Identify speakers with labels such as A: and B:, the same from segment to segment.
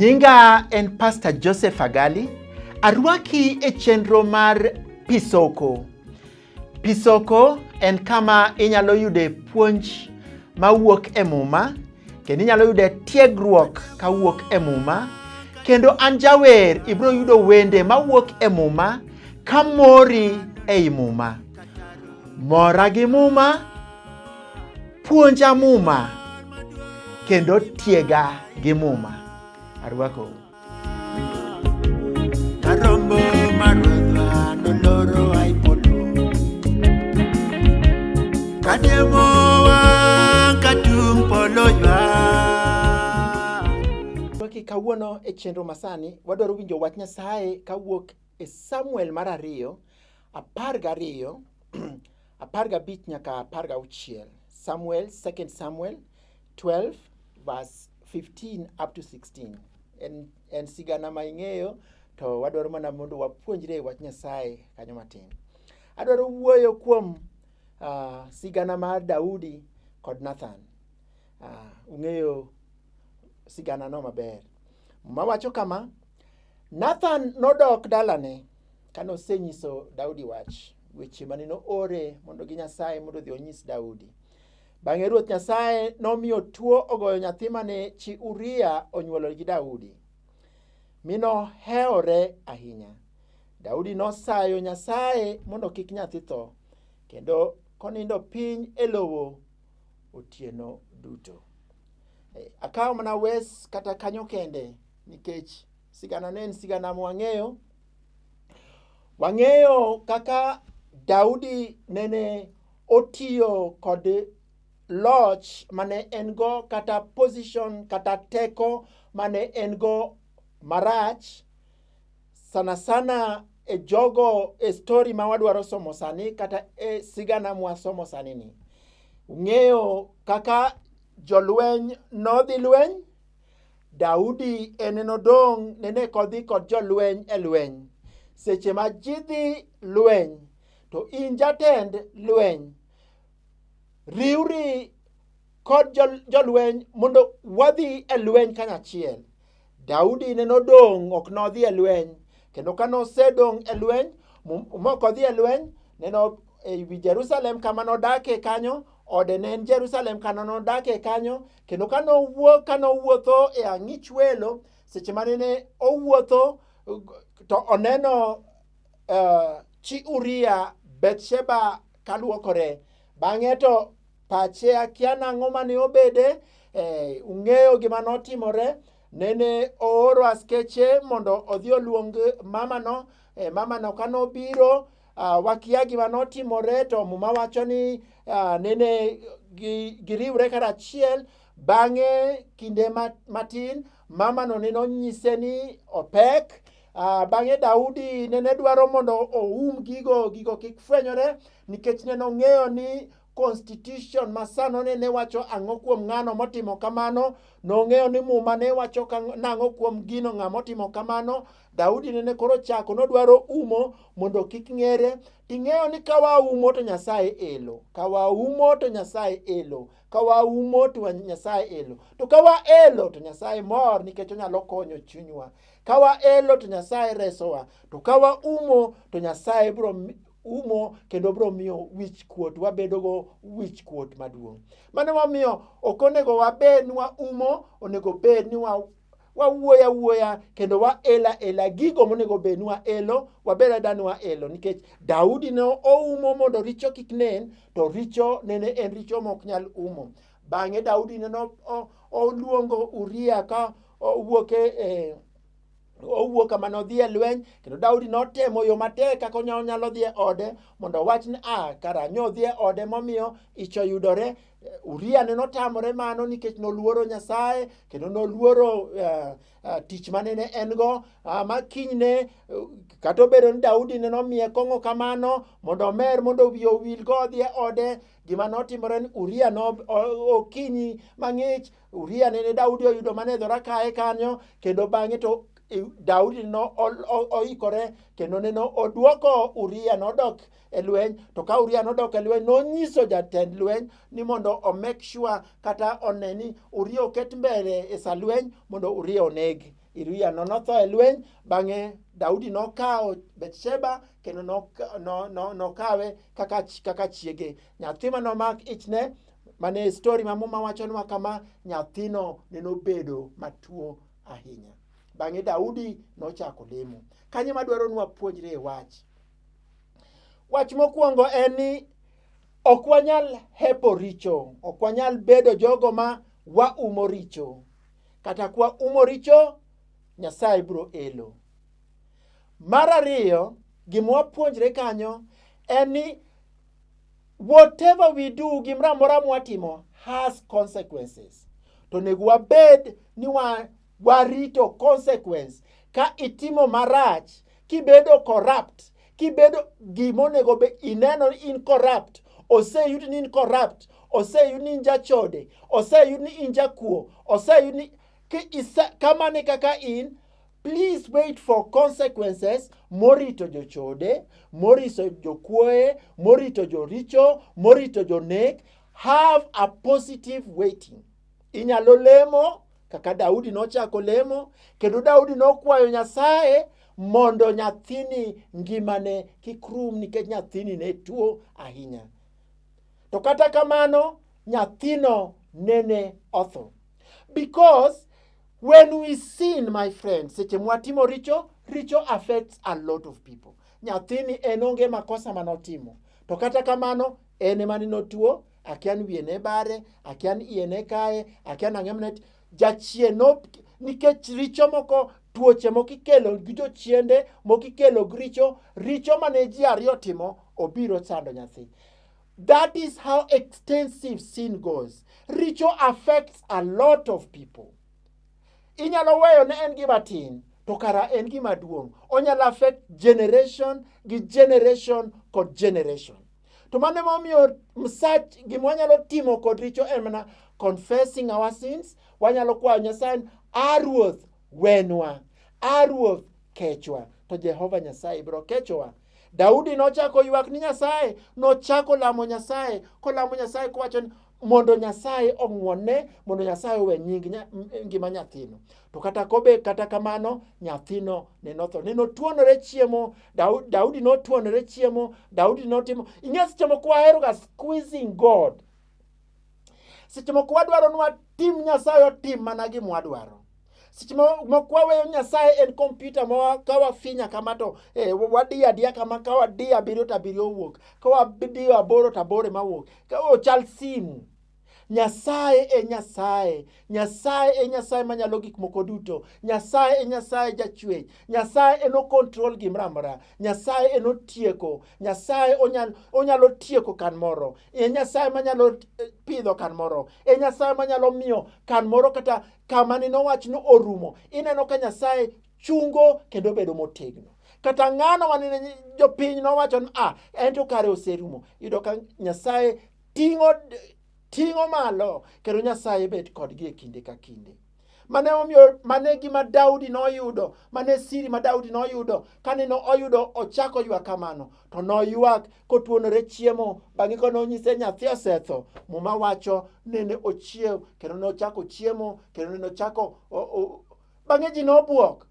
A: Nyinga en Pastor Joseph Agali. Arwaki e chenro mar Pisoko. Pisoko en kama inyalo yude puonj mawuok e Muma kendo inyalo yude tiegruok kawuok e Muma kendo an jawer ibiro yudo wende mawuok e Muma ka mori ei Muma. Mora gi Muma, puonja Muma kendo tiega gi Muma. Arwakou. kawuono e chenro masani wadwaro winjo wach Nyasaye kawuok e Samuel mar ariyo apar gariyo apar gabich nyaka apar gauchiel Samuel, 2 Samuel 12 verse 15 up to 16 en, en sigana ma ing'eyo to wadwaro mana mondo wapuonjre wach nyasaye kanyo matin adwaro wuoyo kuom uh, sigana mar daudi kod nathan uh, ung'eyo sigana no maber mawacho kama nathan nodok dalane kane osenyiso daudi wach weche mane noore mondo gi nyasaye mondo odhi onyis daudi Bang'e Ruoth Nyasaye nomiyo tuo ogoyo nyathi mane chi Uria onyuolo gi Daudi, mi nohewore ahinya. Daudi nosayo Nyasaye mondo kik nyathi tho, kendo konindo piny e lowo otieno duto. Eh, akawo mana wes kata kanyo kende nikech sigana ne en sigana mwang'eyo. Wang'eyo kaka Daudi nene Otiyo kod loch mane en go kata position kata teko mane en go marach sana sana e jogo e story ma wadwaro somo sani kata e sigana mwasomo sani ni. Ung'eyo kaka jolweny nodhi lweny, Daudi en nodong' nene kodhi kod jolweny e lweny. Seche ma jidhi lweny, To in jatend lweny, riwri kod jol- jolweny mondo wadhi e lweny kanyachiel. Daudi ne nodong' ok nodhi e lweny, kendo ka nosedong' e lweny mo- mok odhi e lweny, ne no e wi Jerusalem kama nodakie kanyo, ode ne en Jerusalem kama nodakie kanyo, kendo ka nowuok ka nowuotho e ang'ich welo, seche mane ne owuotho to oneno uh, chi Uria Bethsheba kaluokore. Bang'e to pache akia nang'o mane obede, eh, ung'eyo gima notimore. Nene ooro askeche mondo odhi oluong mamano, eh, mamano ka nobiro, ah, wakia gima notimore to muma wacho ni ah, nene gi- giriwre karachiel bang'e kinde ma- matin mamano nene onyise ni opek Ah, bang'e Daudi nene dwaro mondo oum gigo gigo kik fwenyore nikech nene ong'eyo ni constitution masano nene wacho ang'o kuom ng'ano motimo kamano nong'eyo ni muma ne wacho ka- nang'o kuom gino ng'a motimo kamano daudi nene koro chako nodwaro umo mondo kik ng'ere ting'eyo ni ka waumo to nyasaye elo ka waumo to nyasaye elo ka waumo to wa- nyasaye elo to ka waelo to nyasaye mor nikech onyalo konyo chunywa Ka waelo to Nyasaye resowa, to ka waumo to Nyasaye biro mi- umo kendo biro miyo wich kuot wabedogo wich kuot maduong'. Mano momiyo ok onego wabed ni waumo, onego bed ni wa wawuoyo awuoya kendo waelo aela gigo monego bed ni waelo wabed ada ni waelo nikech daudi ne oumo mondo richo kik nen to richo nene en richo ma ok nyal umo Bang'e Daudi ne oluongo Uria ka owuok e, e owuok kama nodhi e lweny kendo daudi notemo yo matek kaka onyalo dhi e ode mondo owach ni a ah, karanyo odhi e ode momiyo ich oyudore uria ne notamore mano nikech noluoro nyasaye kendo noluoro uh, uh, tich mane ne en go uh, ma kinyne uh, kata obedo ni daudi ne nomiye kong'o kamano mondo omer mondo wiye owilgo odhi e ode gima notimore ni uria no okinyi mang'ich uria nene daudi oyudo mana e dhora kae kanyo kendo bang'e to i- daudi no ol- o- oikore kendo neno odwoko uria nodok e lweny to ka uria nodok e lweny nonyiso jatend lweny ni mondo omek sure kata one ni uria oket mbele e sa lweny mondo uria onegi Iriano notho e lweny, bang'e Daudi nokawo Bethsheba kendo nokawe kaka, kaka chiege. Nyathi ma nomak ichne mane e stori ma muma wachonwa kama, nyathino ne nobedo matuo ahinya. Bang'e Daudi nochako lemo. Kanye madwaro nwa puonjre e wach? Wach mokwongo en ni ok wanyal hepo richo, ok wanyal bedo jogo ma waumo richo. Kata kwa umo richo, Nyasaye biro elo. Mar ariyo, gima wapuonjre kanyo en ni whatever we do, gimoro amora mwatimo has consequences. To onego wabed ni wa, warito consequence ka itimo marach, kibedo corrupt, kibedo gima onego be ineno ni in corrupt oseyudi ni in corrupt oseyudi ni in jachode oseyudi ni in jakuo oseyudi ni ki- isa- kamano e kaka in please wait for consequences morito jochode morito jokuoye morito joricho morito jonek have a positive waiting Inyalo lemo kaka Daudi nochako lemo, kendo Daudi nokwayo Nyasaye mondo nyathini ngimane kik rum nikech nyathini ne tuo ahinya. To kata kamano, nyathino nene otho. Because when we sin, my friend, seche mwatimo richo, richo affects a lot of people. Nyathini en onge makosa manotimo. To kata kamano, en ema ni notuo akian wiye ne bare akian iye ne kaye akian ang'e mnet jachien no nikech richo moko tuoche moko ikelo gi jochiende moko ikelo gi richo richo mane ji ariyo timo obiro sando nyathi that is how extensive sin goes richo affects a lot of people inyalo weyo ne en gima tin to kara en gima duong' onyalo affect generation gi generation kod generation To mano ema omiyo msach gima wanyalo timo kod richo en mana confessing our sins. Wanyalo kwayo Nyasaye ni, "A Ruoth, wenwa. A Ruoth, kechwa." To Jehova Nyasaye biro kechowa. Daudi nochako oywak ni Nyasaye, nochako lamo Nyasaye, kolamo Nyasaye kowacho ni mondo Nyasaye ong'wonne, mondo Nyasaye owe nying nya- m- ngima nyathino. To kata kobe kata kamano nyathino ne notho. Ne notuonore chiemo, Daudi, Daudi notuonore chiemo, Daudi notimo. Ing'e seche moko waheroga squeezing God. Seche moko wadwaro ni watim Nyasaye otim mana gima wadwaro. Seche mo- moko waweyo Nyasaye en kompyuta ma wa- ka wafinya kama to eh, wadiyo adiya kama ka wadiyo abiriyo to abiriyo owuok. Ka wadiyo aboro to aboro ema wuok. Ka ochal simu. Nyasaye e Nyasaye. Nyasaye e Nyasaye manyalo gik moko duto. Nyasaye e Nyasaye jachwech. Nyasaye en okontrol gimoro amora. Nyasaye en otieko. Nyasaye onyal, onyalo tieko kan moro. E Nyasaye manyalo eh, pidho kan moro. E Nyasaye manyalo miyo kan moro kata kama nino wach ni orumo. Ineno ka Nyasaye chungo kendo bedo motegno kata ng'ano manene jopiny nowacho ni ah, en to kare oserumo. Yudo ka Nyasaye Ting'o ting'o malo kendo Nyasaye bet kodgi e kinde ka kinde. Mane omiyo mane gima Daudi noyudo, mane siri ma Daudi noyudo kane no oyudo ochako ywak kamano, to noywak kotuonore chiemo bang'e ka nonyise nyathi osetho. Muma wacho nene ochiew kendo nochako chiemo kendo nene ochako bang'e ji nobwok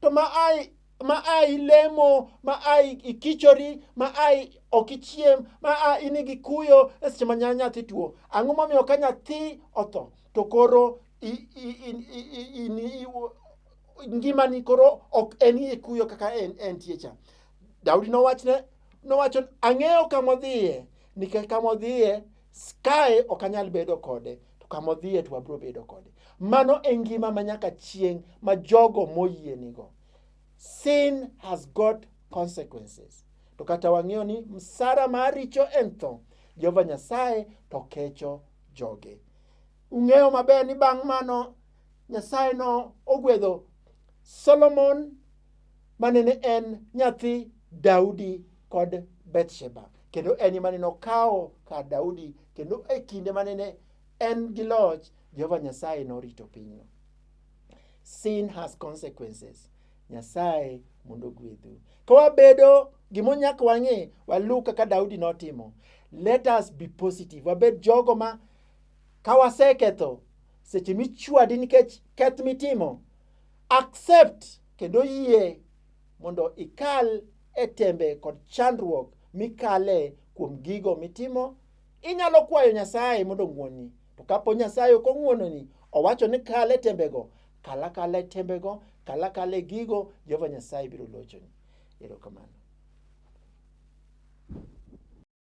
A: to ma ai ma ai lemo ma ai ikichori ma ai ok ichiem ma a in gi kuyo e seche ma nya- nyathi tuo ang'o momiyo ka nyathi otho to koro i- i- i- i- i- in- i- u- ngimani koro ok en e kuyo kaka en- entie cha daudi nowachne nowacho ang'eyo kama odhiye nikech kama odhiye Kae ok anyal bedo kode, to kama odhiye to wabiro bedo kode. Mano e ngima ma nyaka chieng' ma jogo moyie nigo. Sin has got consequences. To kata wang'eyo ni msara mar richo en tho, Jehova Nyasaye to kecho joge. Ung'eyo maber ni bang' mano Nyasaye no ogwedho Solomon ma nene en nyathi Daudi kod Bethsheba. Kendo en ema nene okawo kar Daudi kendo e kinde ma nene en gi loch, Jehova Nyasaye norito pinyno. Sin has consequences. Nyasaye mondo ogwedhu. Ka wabedo gimonyak wang'e, waluw kaka Daudi notimo. Let us be positive. Wabed jogo ma ka waseketho, seche michwadi nikech keth mitimo, accept kendo yie mondo ikal e tembe kod chandruok mikale kuom gigo mitimo, inyalo kwayo Nyasaye mondo ong'wonni. To kapo Nyasaye ok ong'wononi, owacho ni kal e tembego, kal akala e tembego, kal akala e gigo, Jehova Nyasaye biro lochoni. Erokamano.